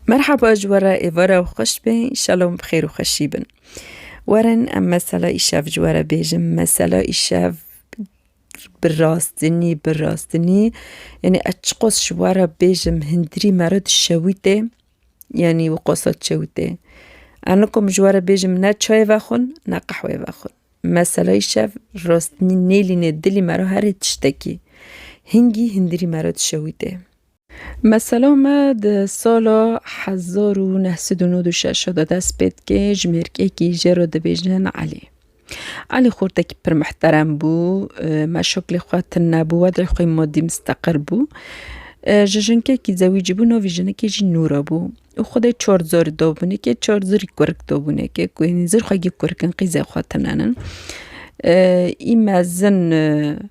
Merhaba ji we re êvar ew xweş be înşallah bi xêr û xweşî bin. Werin em mesela îşev ji we re bêjin. Mesela îşev bi rastinî bi rastinî yanî ez çi qas ji we re bêjim hindîrî me re dişewite yanî wê qasa dişewite. Ez nikom ji we re bêjim ne çayê vexwin ne qehweyê vexwin. Mesela îşev rastinî nêlîne dilê me re herî tiştekî. Hingî hindîrî me re dişewite. Mesela me di sala hezar û neh sed û nod û şeş de dest pê dike, ji mêrgekî jê re dibêjin Elî. Elî xortekî pir mihterem bû, meşaklê xwe tune bû, wedê xwe madî misteqil bû. Ji jinkekî zewîcî bû, navê jinekê jî Nûra bû û xwe dê çar zarî dabûneke, çar zirî kurik dabûneke ku zirxwegî kurik in qîzê xwe tunenin. Î mezin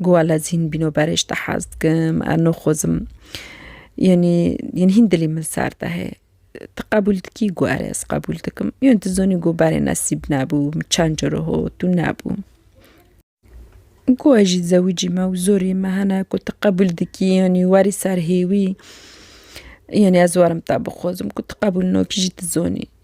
Guala zîn bîno berê ji te hez dikim, ez noxozim. Yanî yên hîn dilê min sar de heye. Tu qebûl dikî? Got erê ez qebûl dikim. Yan tu zanî got berê nesîb nebû, min çend caro hot û nebû. Got ez jî zewicî me û zorê me hene ku tu qebûl dikî yanî werî ser hêwî. Yanî ez werim te bixozim ku tu qebûl nakî jî tu zanî.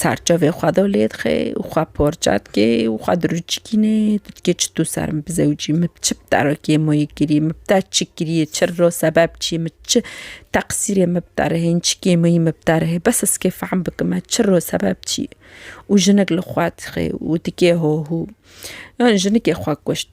Serçavê xwe do lê dixê û xwe porça dikê û xwe dirûçikînê dikê çi tu ser min bi zewicî min bi çi bi terekê min wê kirî min bi te çi kiriye çi ro sebep çî min çi teqsîrê min bi te re hê min çi kêmeyî min bi te re hê bes ez kê fehm bikim me çi ro sebep çî ye û jinik li xwe dixê û dikê hohû yan jinikê xwe kuşt.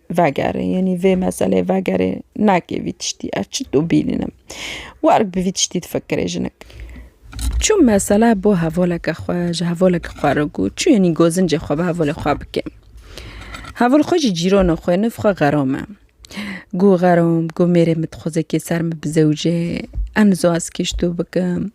Vegere yenî vê meseleyê vegere nakê vî tiştî ev çi tu bînin em warg bi vî tiştî difikirê jinik. Çû mesela bo hevoleke xwe ji hevoleke xwe re got çû yenî gozincê xwe bi hevolê xwe bike. Hevol xwe jî cîrona xwe niv xwe xeram e. Got xeram got mêrê min dixwaze kê ser min bizewije em nizo ez kê ji to bikim.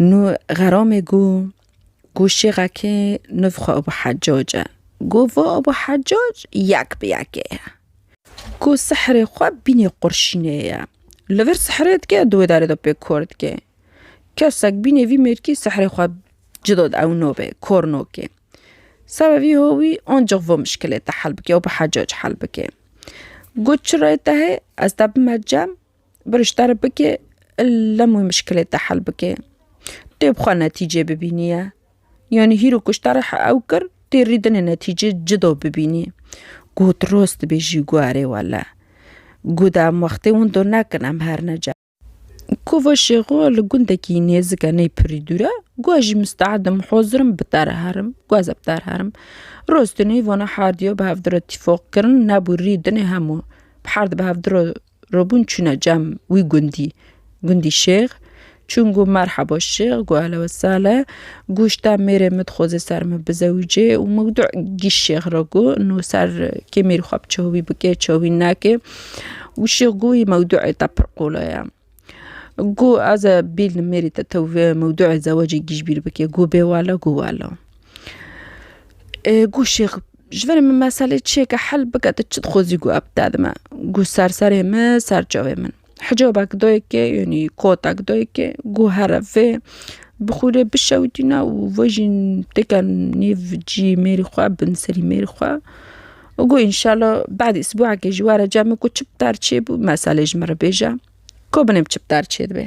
Nû xeramê gû gû şêxekê nûv xwe Ebû Heccac e. Gû va Ebû Heccac yek bi yekê ye. Gû sihrê xwe bînê qurşînê ye. Li vir sihrê dike di wê derê de pê kor dike. Kesek bînê vî mêrkî sihrê xwe cida di ewno vê kor nake. Seba vî howî ancix vo mişkilê te hel bike Ebû Heccac hel bike. Gû çi rê te hê ez te bime cem Biriş terib bike lem wê mişkilê te hel bike. Tê bi xwe netîcê bibîniye. Yanî hîro ku ji te re ew kir tê rîdinê netîcê cida bibînî. Goh tu rast dibêjî goh erê wele. Goh di em wextê winda nekin em her ne cem. Kova Şêxo li gundekî nêzik e ney pirî dûr e. Goh ez jî misteed im hazir im bi te re herim. Goh ez ê bi te re herim. Rastî neyvana herdiya bi hevdira tîfaq kirin nebû rîdinê hemû bi herdî bi hevdira Robûn çûne cem wî gundî. Gundî şêx. Çûn got merheba şêx, got ehla we sehla. Got ji te mêrê min dixwaze ser min bizewicê û min got gîş şêx re got no ser kê mêrî xwe bi çehûvî bike, çehûvî neke. Û şêx got wî mewdûê te pir qola ye. Got ez e bîlnim mêrî te tew vê mewdûê zewecê gîş bîr bike. Got bê wele, got wele. Ê got şêx Ji ber min meselê çi ye ke hel bike tu çi dixwazî ku ev bide di me? Goh ser serê min, ser çavê min. Hicabek dayikê yanî kotek dayikê goh here vê bi xûrê bişewitîne û ve jî têke nîv cî mêrî xwe bin serî mêrî xwe û goh înşela badê sibûekê jî were cem ku çi bi te re çêbû meselê ji min re bêje ku binê çi bi te re çêdibe.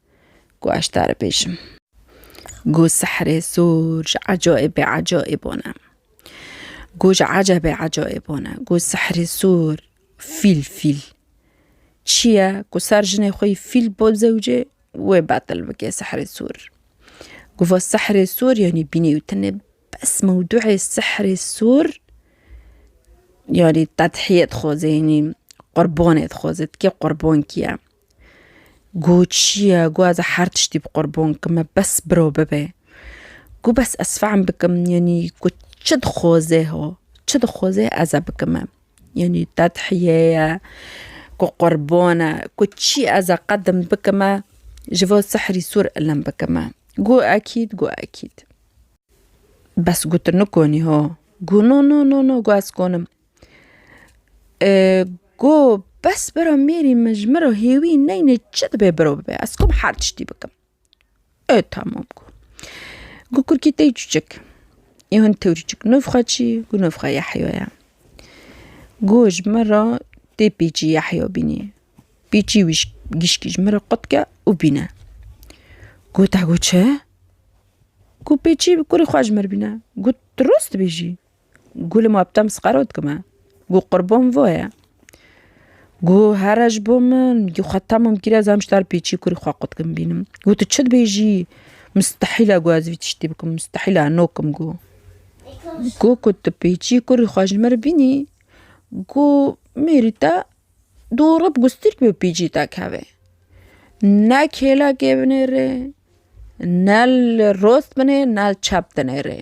ku ez tare bêjim. Ku sihrê sor ji ecaîbê ecaîb one. Ku ji ecebê ecaîb one. Ku sihrê sor fîl fîl çi ye ku ser jinê xwe yî fîl bo zewcê wê betil bike sihrê sor. Ku va sihrê sor yanî bînî û tenê bes mewduê sihrê sor yanî tedhiyê dixwaze yanî qurbanê dixwaze ti kê qurban kî ye. Gu çiye gu ez ê her tiştî bi qurbon bikim me bes biro bibe. Gu bes ez fehm bikim yanî gu çi dixwaze ho çi dixwaze ez e bikim me. Yanî tedhîye ye gu qurbon e gu çi ez ê qedim bikim me ji bo sihrî sûr ilim bikim me. Gu ekîd gu ekîd bes gu tu nikonî ho gu no no no no gu ez konim. Got bes bira mêrî min ji min re hêwî neyne çi dibe biro bibe ez kom her tiştî bikim ê tamam got. Got kurikî te yî çûçik ê hin tewrî çik nûv xwe çî got nûv xwe Yehya ye got ji min re tê pêçî Yehya bînî pêçî wî gişkî ji min re qutke û bîne got te got çi got pêçî kurê xwe ji min re bîne got tu rûst dibêjî. Gû li ma bi te misqero dikim e. Gû qurbon vo ye. Gû here ji bo min gû xwe tam û mkîr ez em ji te re pêçî kurî xwe qut kim bînim. Gû tu çi dibêjî? Mistehîl e gû ez vî tiştî bikim, mistehîl e no kim gû. Gû ku tu pêçî kurî xwe ji min re bînî gû mêrî te dûrib gû stîrk bi pêçî te kevê. Ne kêlekê binêrê, ne li rost binê, ne li çep dinêrê.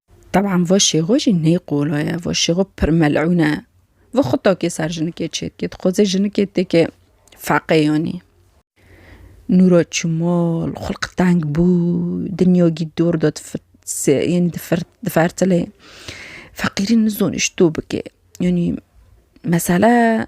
Teb'an va şêxo jî ney qola ye, va şêxo pir mel'ûn e. Va xwe takê ser jinikê çê dike, dixwaze jinikê têkê feqê yanî. Nûra çû mal, xulq teng bû, dinyagî dor da yanî difertilê. Feqîrî nizanî ji to bike. Yanî mesele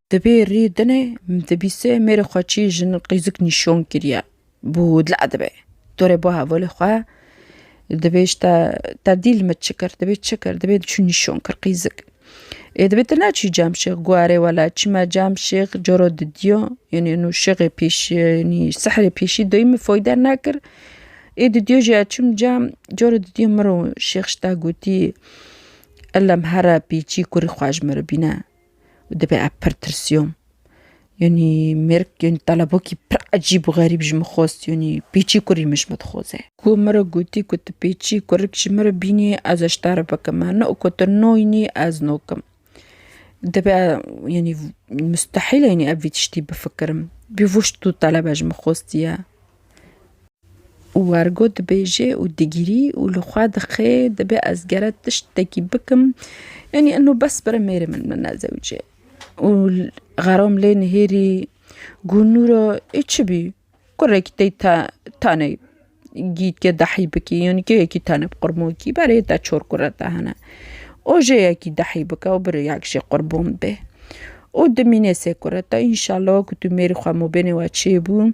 Dibê rî dinê dibîsê mêrê xwe çî jin qîzik nîşon kiriye bû dila dibe. Dorê bo hevolê xwe dibê ji te te dîl min çi kir dibê çi kir dibê çi nîşon kir qîzik. Ê dibê tu neçî cemşêx got erê wela çima cemşêx coro didiyo yenê nû şixê pêşî yenî sihrê pêşî doyî min foyde nekir. Ê didiyo jî ez çûm cem coro didiyo min ro şêx ji te gotî Elem here pêçî kurî xwe ji min re bîne. û divê ev pir tirsiyom. Yanî mêrik yanî telebokî pir ecîb û xerîb ji min xwest yanî pêçî kurî min ji min dixwaze. Ku min re gotî ku tu pêçî kurik ji min re bînî ez ji te re bikim me ne ku tu noynî ez nokim. Divê yanî mustehîl e yanî ev vî tiştî bifikirim. Bî vişt û telebe ji min xwestiye. Wergo dibêje û digirî û li xwe dixê dibê ez gere tiştekî bikim yanî eno bes bire mêrê min min ne zewicê û xeram lê nihêrî gû nûro ê çi bî kurekî tey te tenê gîtke dehî bikî yanî kê yekî tenê bi qurmokî berê te çor kure te hene ojê yekî dehî bike û birê yek jê qurbon bê û dimînê sê kure te înşellah ku tu mêrî xwe mûbênê we çêbû.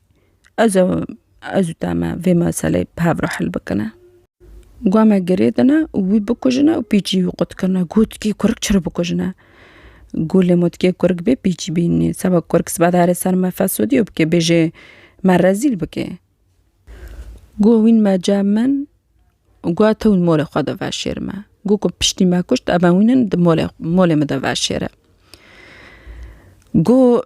Ez û ez û te me vê meseleyê bi hev re hil bikine. Gwa me girê dine û wî bikujine û pîçî wî qut kirine. Got tikê kurik çi re bikujine? Got lê ma tikê kurik bê pîçî bînî. Seba kurik sibe diherê ser me fesûdîyo bikê bêjê me rezîl bikê. Got wîn me ce min û got te wîn molê xwe de veşêri me. Got ku piştî me kuşt ev wîn in molê molê min de veşêre. Got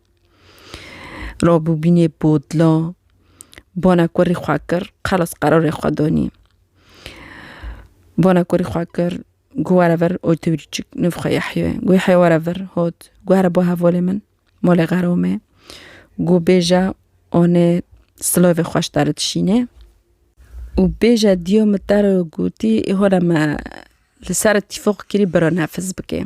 Rabûbînê Bodla banekorî xwe kir, xelas qerarê xwe danî. Banekorî xwe kir, got were vir otobîrê çik nûv xwe Yehye. Got Yehye were vir hat, got here ba hevalê min, malê xera me. Got bêje anê silavê xwe ji te re dişînê û bêje diya min te re gotî, îhora me li ser tîfaq kirî bira nefiz bike.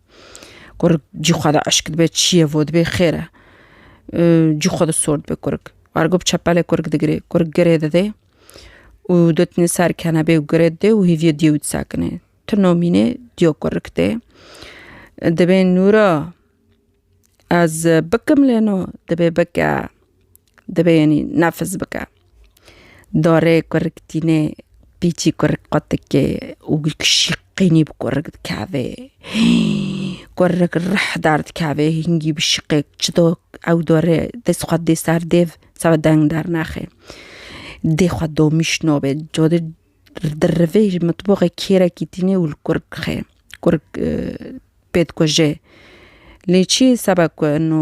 Kurik cî xwe de eşk dibe çiyê vo dibê xêr e. Cî xwe de sor dibe kurik. Ergo bi çepelê kurik digirê. Kurik girê didê û dotnê ser kenebê û girê didê û hêviya diyê wî disekinê. Tu nomînê diya kurik tê. Dibê nûra ez bikim lê no dibê bike. Dibênî nefs bike. Darê kurik tînê, pîçî kurik qatikê û şîqînî bi kurik dikevê. Kurik rih derdikevê, hingî bi şîqê çido ew darê dest xwe didê ser dêv, sebe deng dernexe. Dê xwe domîş nabe, cade di rivê ji mitboxê kêrekî tîne û li kurik dixe. Kurik pê dikuje. Lê çiyê sebe ku ino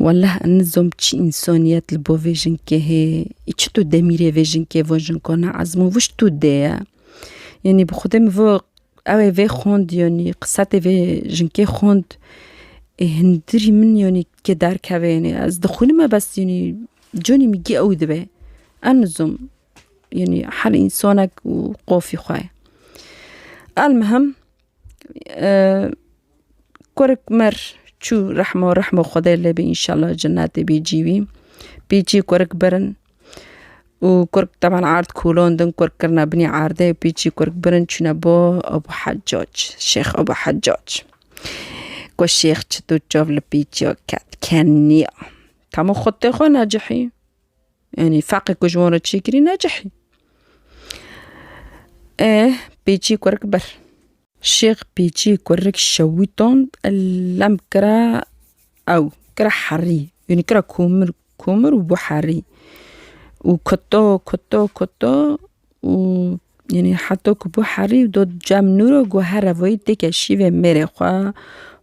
Wallah ez nizom çi însaniyet li bo vê jinkê hê. Ê çi tu demîrê vê jinkê van jinka ne ezm û wişt tu dê ye. Yanî bi xwedê min vê ew ê vê xwend yanî qisetê vê jinkê xwend ê hundirî min yanî ke derkeve yanî ez dixwînime bes yanî canê min giya ew dibe. Ez nizom yanî her însanek û qafî xwe ye. Elmuhim Kurek mir çû rehma rehma Xwedê lê bî înşellah cinetê bî cî wî. Pîçî kurek birin û kurek teban erd kûlandin kurek kirine binî erdê û pîçî kurek birin çûne bo Abu Hecac Şêx Abu Hecac. Got şêx çitûr çav li pîçiya ket keniya. Hemû xwedê xwe necihî. Yanî feqê ku ji wan re çêkirî ne cihê. E pêçî kurik bir. Şêx pêçî kurik şewîtan lem kira ew kira herî yanî kira komir komir û bû herî û kuto kuto kuto û yanî heta ku bû herî û dot cem nûr û guh here vayî têke şîvê mêrê xwe,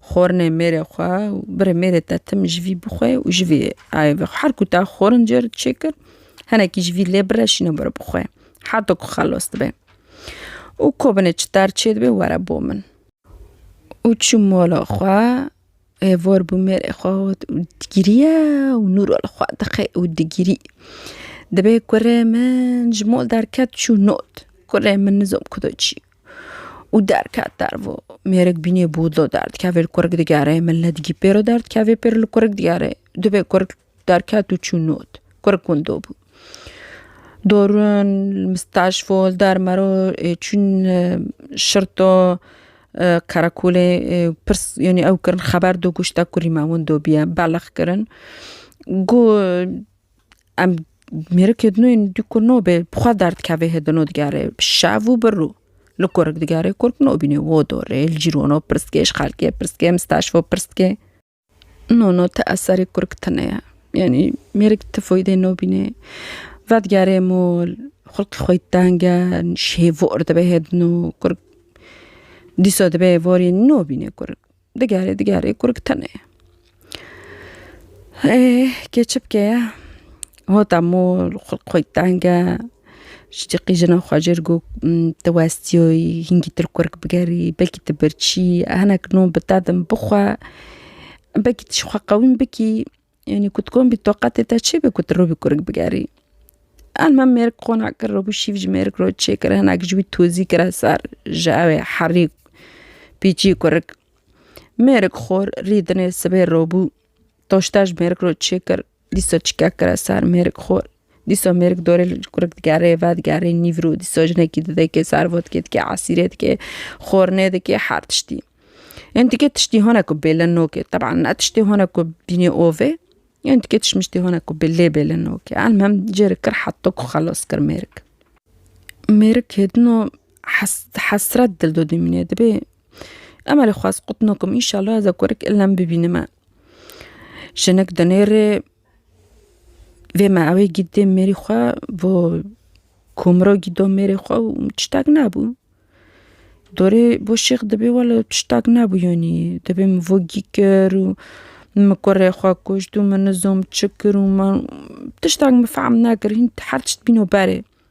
xwarinê mêrê xwe û birê mêrê te tim ji vî bixwe û ji vî ayê vexwe. Her ku te xwarin cêr çê kir hinekî ji vî lê bire şîne bire bixwe heta ku xelas dibe. Û ko binê çiter çêdibe were bo min. Û çû mala xwe Ev vor bi mêrê xwe got û digiriye û nûro li xwe dixê û digirî. Dibê kurê min ji mol derket çû not. Kurê min nizom ku tu çi û derket dervo. Mêrik bînê bûdlo derdikevê li kurik digere min le digî pêro derdikevê pêro li kurik digere. Dibê kurik Derket û çû not. Kurk gundo bû. Dorûn, Mistaşfol, Dermero çûn şirto qerekolê pirs yanî ew kirin xeber do goşta ku rîma win dobiye belax kirin. Got em mêrikê din yên dû ku nobê bi xwe derdikevê hê dino digerê şev û bi rû. Li kurk digerê kurk nobînê wo dorê li cîrwano pirs dikê ji xelkê pirs dikê mistaşfo pirs dikê. No no te eserê kurk tine ye. Yanî mêrik ti foydê nobînê. Vedigerê mol, xulqê xwe teng e, şêvor dibe hê din û kurk dîsa dibe hê vorê nobînê kurk. Digerê digerê kurk tine ye. Ê kê çi bike ye? Hota mol xulq xwe teng e. Ji cî qîjina xwe jê re got tu westiyoyî hingî tu li ku bigerî belkî tu birçî hinek non bi te din bixwe. Belkî tu ji xwe qewîm bikî yanî ku tu komî toqetê te çê be ku tu rûbî kurik bigerî. Em hem mêrik qona kir rûbû şîv ji mêrik re çê kir hinek ji wî tozî kire ser ji ew ê herî pîçî kurik. Mêrik xor rî dinê sibê rûbû toşte ji mêrik re çê kir. Dîsa çîka kira sar mêrik xor. Dîsa mêrik dorê li kurik digerê, vedigerê nîvrû. Dîsa jinekî didekê, sar vodkê dike, esîrê dike, xornê dike, her tiştî. Yên dike tiştî hene ku bêle noke. Teban ne tiştê hene ku bînê ovê. Yên dike tişmiştê hene ku bi lê bêle noke. Elmhem cêre kir heta ku xelas kir mêrik. Mêrik hêdino hes hesret dil de dimîne. Dibê Emelê xwest qutino ku înşellah ez e kurik îlem bibînime. Jinik di nêrê vê meewê gîdê mêrî xwe bo komro gîdo mêrê xwe û tiştek nebû. Dorê bo şêx dibê wele tiştek nebû yanî dibê min bo gî kir û min kurê xwe kuşt û min nizam çi kir û man tiştek min fehm nekir hîn her tişt bîno berê.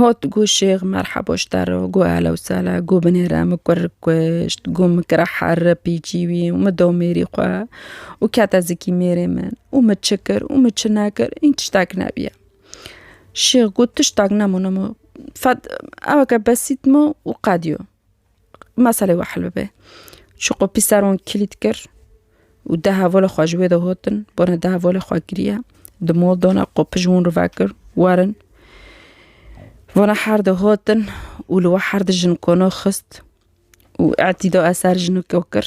Hot gu şêx merhebo ji te re û gu ehla û sehla gu binêre min kurik kuşt gu min kira here pîçî wî û min da mêrî xwe û kete zikî mêrê min û min çi kir û min çi nekir hîn tiştek nebiye. Şêx gu tiştek nemûne min fed eweke besît min û qediyo. meselê we hel bibe. Çi ku pîseron kilît kir û deh hevalê xwe ji wê de hatin, bone deh hevalê xwe kiriye, di mal dane qopij ji wan re vekir, werin. Vana her de hatin û li we her de jin kona xist û etî da eser jineke kir.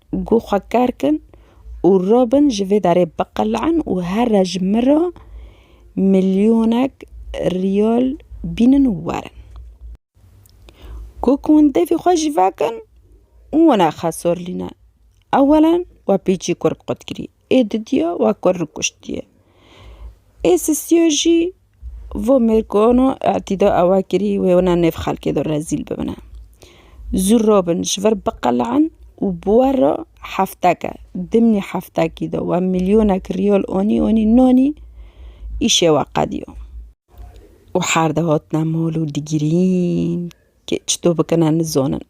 Gu xwe ker kin û rabin ji vê derê biqele'in û here ji min re milyonek riyal bînin û werin. Gu ku hûn devî xwe jî vekin û wina xesorlîne, ewelen we pêçî kurd qut kirî. Ê didiya wa ku rikuştiye. Ê sisiya jî vo mêrkano etîda ewa kirî wê wina nêv xelkê de rezîl bibine. Zû robin ji vir biqele'in û bi we re hefteke, dimnî heftekî de we milyonek riyal anî anî nanî îşê we qediya. Û her de hatine mal û digirîn. Kê çitû bikine nizonin.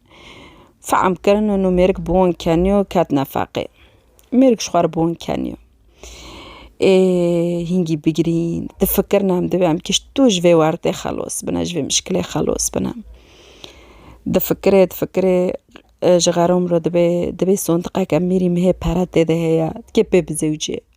Fehm kirin û nû mêrik bi wan keniyo ketine feqê. Mêrik ji xwe re bi wan keniyo. Ê hîngî bigirîn, difikirin em divê em kişt tu ji vê wertê xelos bine, ji vê mişkilê xelos bine. Difikirê difikirê ji xerom re dibê dibê sondiqeke mîrî mihê pere tê de heye kê pê bizewicê.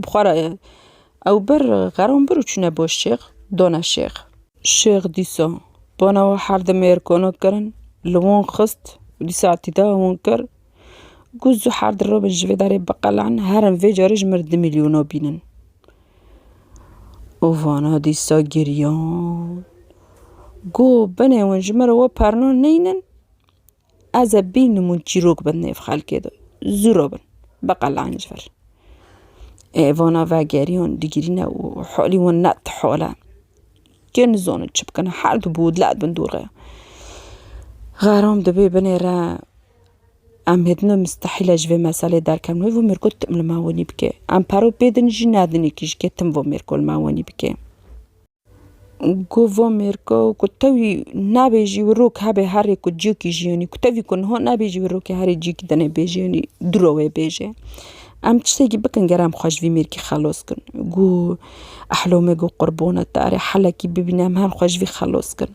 Bi xwe re ew bir xeron bir û çûne bo şêx, dona şêx. Şêx dîsa bona û her di mêr kono kirin, li wan xist û dî saetî da wan kir ku zû her di robin ji vê derê biqelin, herin vê carê ji mir di mîlyona bînin. Û vana dîsa giriyan ku binê wan ji mir re we perna neynin, Ez ê bînimû çîrok bin nêv xelkê de, zû re bin, biqelanc ver. Ê vana vegeriyan digirîne û halî wan ne ti hal e. Kê nizane çi bikin, her di bo dilek bin dûr re. Xeram dibê binê re, em hêdine mistehîle ji vê meselê derkevin. Wê vû mêrgo tim li me wenî bike. Em pere pê din jî nedin kî ji kê tim vû mêrgo li me wenî bike. Gova mêrka û ku tewî nabêjî wî rok hebê herê ku ciyekî jiyînî ku tevî ku niha nabêjî wî rokê herê ciyekî dene bêjênî du re wê bêje. Em tiştekî bikin ger em xwe ji vî mêrkî xelos kin. Gû ehlome gû qurbone te erê helekî bibîne em her xwe ji vî xelos kin.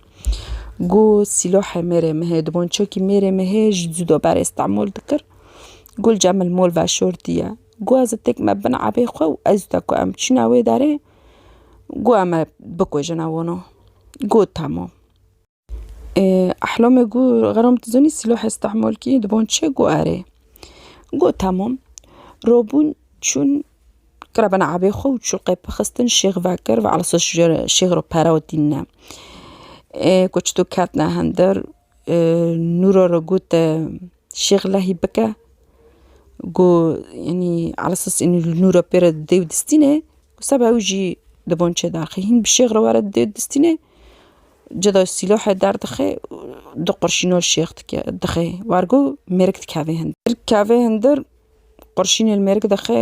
Gû sîlahê mêrê me hê dibançeyekî mêrê me hê ji dûda berê istemol dikir. Gû li cem li mol veşortî ye. Gû ez ê tek me bin ebê xwe û ez te ku em çûna wê derê Got em ê bikujin ew wino. Got tamam. Ehlomê got xeram tu zanî sîlahê stehmalkî di van çi ye? Got erê. Got tamam. Rabûn çûn kirabena ebê xwe û çûqê pixistin şêx vekir ve elisûs şêx re pere û tîne. Got çito ketine hindir. Nûro re got şêxlehî bike ku enî eses enî li nûro pê re didê û distînê ku seba ew jî di van çêde axê hîn bi şêx re were didê û distînê ceda sîlahê derdixê du qurşîna li şêx dike dixê war ku mêrik dikeve hindir dikeve hindir qurşînê li mêrik dixê.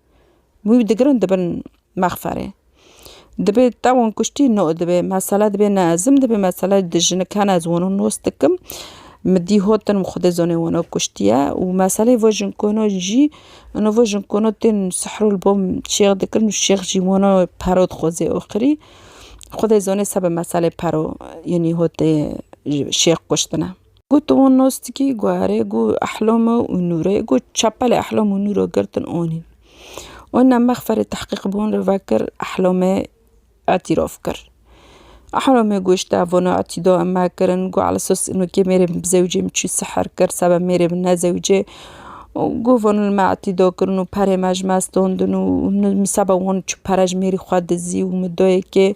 wî digirin dibin mexferê. Dibê tewin kuştî no dibê mesele dibê ne ezim dibê mesele di jinik hene ez wino nos dikim mi dî hotin û xwedê zonê wino kuştiye û meselê vê jinkono jî ino vê jinkono tên sihro li bo şêx dikirin û şêx jî wino pero dixwezê oxirî xwedê zonê sebe meselê pero yanî hotê şêx kuştine. Got wan nas dikî guherê got Ehlama û Nûrê got çepelê Ehlam û Nûra girtin anîn. Wan ne mexferê tehqîq bi wan re vekir Ehlamê îtîraf kir. Ehlamê got ji devona îtîda em mekirin got ala esas ino kê mêrê min bi zewcê min çi sihr kir seba mêrê min ne zewcê got van li me îtîda kirin û perê me ji me standin û min seba wan çi pere ji mêrî xwe dizî û min dayê kê.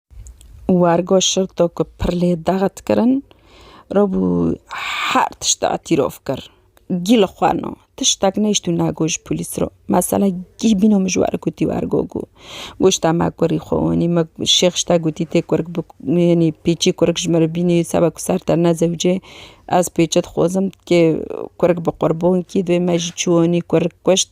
Wergo şirto ku pir lê dax dikirin, rabû her tişta îtîrof kir. Gî li xwe no, tiştek nehişt û negot ji polîs re. Mesela gî bîno min ji we re gotî wergo ku goşta me kurî xwe anî, me şêx ji te gotî tê kurik bi yanî pêçî kurik ji min re bînî seba ku ser te ne zewicê, ez pêçe dixwazim kê kurik bi qurbankî divê me jî çû anî kurik kuşt.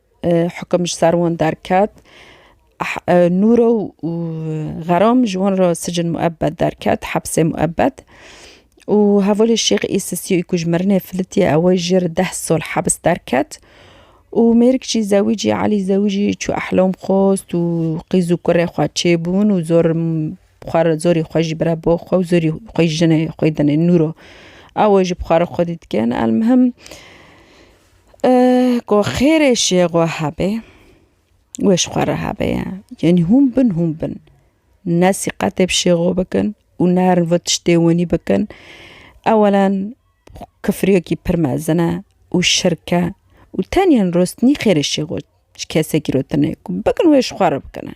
Hukum ji ser wan derket. Nûro û Xeram ji wan re sicin muebed derket, hepsê muebed. Û hevalê Şêx Îsisîyûyî ku ji mirinê filitiye ew ê jê re deh sal hebs derket. Û mêrik jî zewîcî Elî zewîcî çû ehlam xwest û qîz û kurê xwe çêbûn û zor xwe re zorî xwe jî bire bo xwe û zorî xwe jî jinê xwe dinê Nûro. Ew ê ji xwe re xwedî dikin. Elmuhim. Ku xêrê jê xwe hebe wê ji xwe re hebe ye yanî hûn bin hûn bin ne sîqetê bi şêxo bikin û ne her vit tiştê winî bikin ewelan kifiriyekî pir mezin e û şirk e û tenya rostinî xêrê şêxo ji kesekî re tune ye ku bikin wê ji xwe re bikine.